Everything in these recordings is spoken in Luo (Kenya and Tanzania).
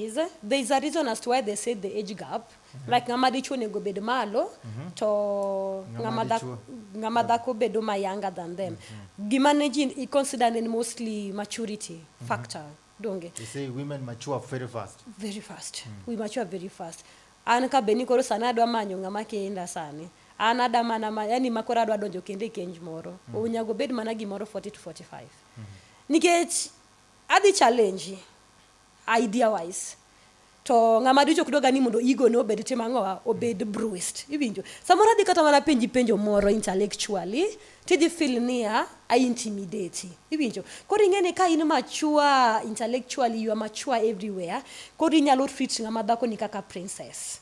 is there is a reason as to why they say the age gap like ng'ama dichuo onego bed malo to Ng'ama ng'ama dhak- dichuo. ng'ama dhako bedo ma younger than them gima ne ji i consider ni mostly maturity factor donge They say women mature very fast. very fast we mature very fast an ka beni koro sani adwa manyo ng'ama kenda sani an ada mana ma, yani ma koro adwa donjo kendo e kenj moro mm. onyago bed mana gimoro 40 to 45 nikech adhi challenge idea wise to ng'ama dicho ok dwaga ni mondo ego ne obed tim ang'owa obed bruised iwinjo samoro adhi kata mana penji penjo moro intellectually tidhi feel niya a intimidate iwinjo koro ing'e ni ka in mature intellectually you are mature everywhere koro inyalo treat ng'ama dhako ni kaka princess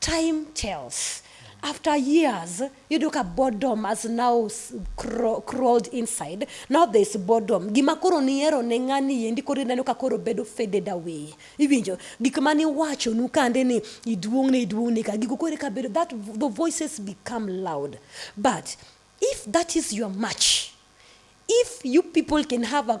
Time tells. After years, yudo ka boredom has now s- craw- crawled inside. Now there is boredom. Gima koro nihero ne ng'ani endi koro ineno ka koro bedo faded away. Iwinjo? Gik ma niwachonu kande ni iduong'ne iduong'ne ka gigo koro eka bedo that the voices become loud. But if that is your match, if you people can have a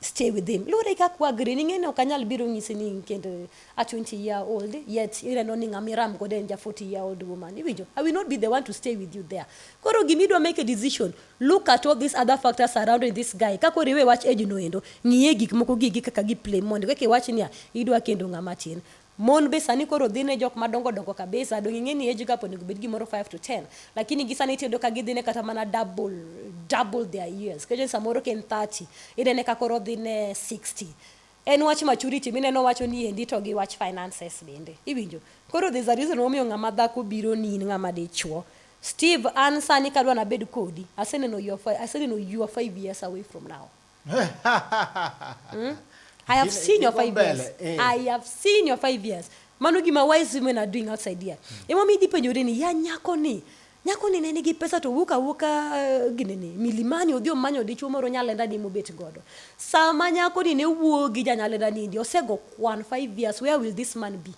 stay with him luwore gi kaka wagri ning'e ni ok anyal biro nyisi ni kend a 20 year old yet ineno ni ng'ama iram godo en ja 40 year old woman iwinjo i will not be the one to stay with you there koro gima idwa make a decision look at all these other factors surrounding this guy kaka oriwe wach age no endo ng'iye gik moko gi gi kaka gi play mondo kaka iwach niya idwa kendo ng'ama tin Mon be sani koro dhi ne jok madongo dongo kabisa, donge ing'e ni age gap onego obed gimoro five to ten, lakini gi sani tiyudo ka gidhine kata mana double, double their years. Kiyudo ni samoro ka en thirty, inene ka koro odhi ne sixty. En wach maturity mineno wacho ni endi to gi wach finances bende. Iwinjo? Koro there's a reason momiyo ng'ama dhako bironi in ng'ama dichuo. Steve an sani kadwa nabed kodi, aseneno you're fi, aseneno you are five years away from now. mm? I have seen your five years. Eh. I have seen your five years. Mano gima wise women are doing outside here. Mm. Ema mi dipe jore ni ya nyako ni. Nyako ni ne nigi pesa to wuka wuka eh, gini ni milimani odhi omanyo dichuo moro nyalenda ni mobet godo. Sama nyako ni ne wuo gi janyalenda ni ndi osego kwan five years where will this man be?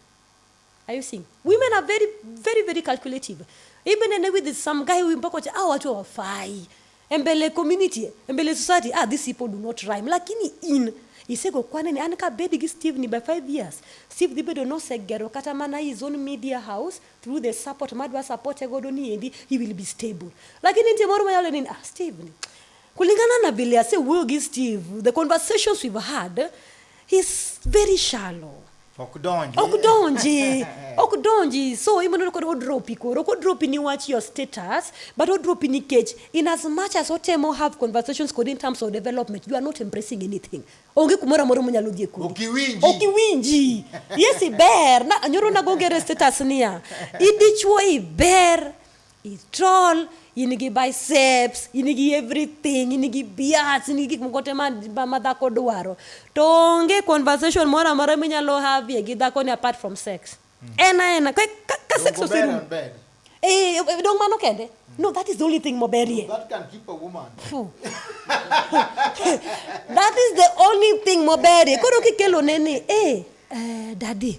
Are you seeing? Women are very, very, very calculative. Even and with some guy who mpaka wacha, ah, watu hawafai. Embele community, embele society, ah, these people do not rhyme. Lakini in, isego kwa nini, an ka bedi gi Steve ni by five years. Steve dhi bedo nosegero kata mana his own media house through the support madwa support e godo ni endi, he will be stable. Lakini nitie moro mayalo nini, ah, Steve ni. Kulingana na vile asewuoyo gi Steve, the conversations we've had, He's very shallow. Ok donji. ok donji ok donji so imono kod odropi koro ok odropi ni wach your status but odropi nikech in as much as otemo have conversations kod in terms of development you are not embracing anything onge kumoro amoro monyalo dhie kodi Ok iwinji. ok iwinji yes iber na nyoro nago ngere status niya idichwo iber I troll, in gi biceps, in gi everything, in gi bias, in gi gik moko te ma, ma, ma dhako dwaro. To onge conversation moro amora minyalo havie gi dhako ni apart from sex. En a ena, ka, ka, ka sex Dongo ber oserumo. and bad. Eh, eh, dong mano kende. No, that is the only thing moberie. That can keep a woman. Phew. that is the only thing moberie. Koro kikelone ni, eh, eh, daddy,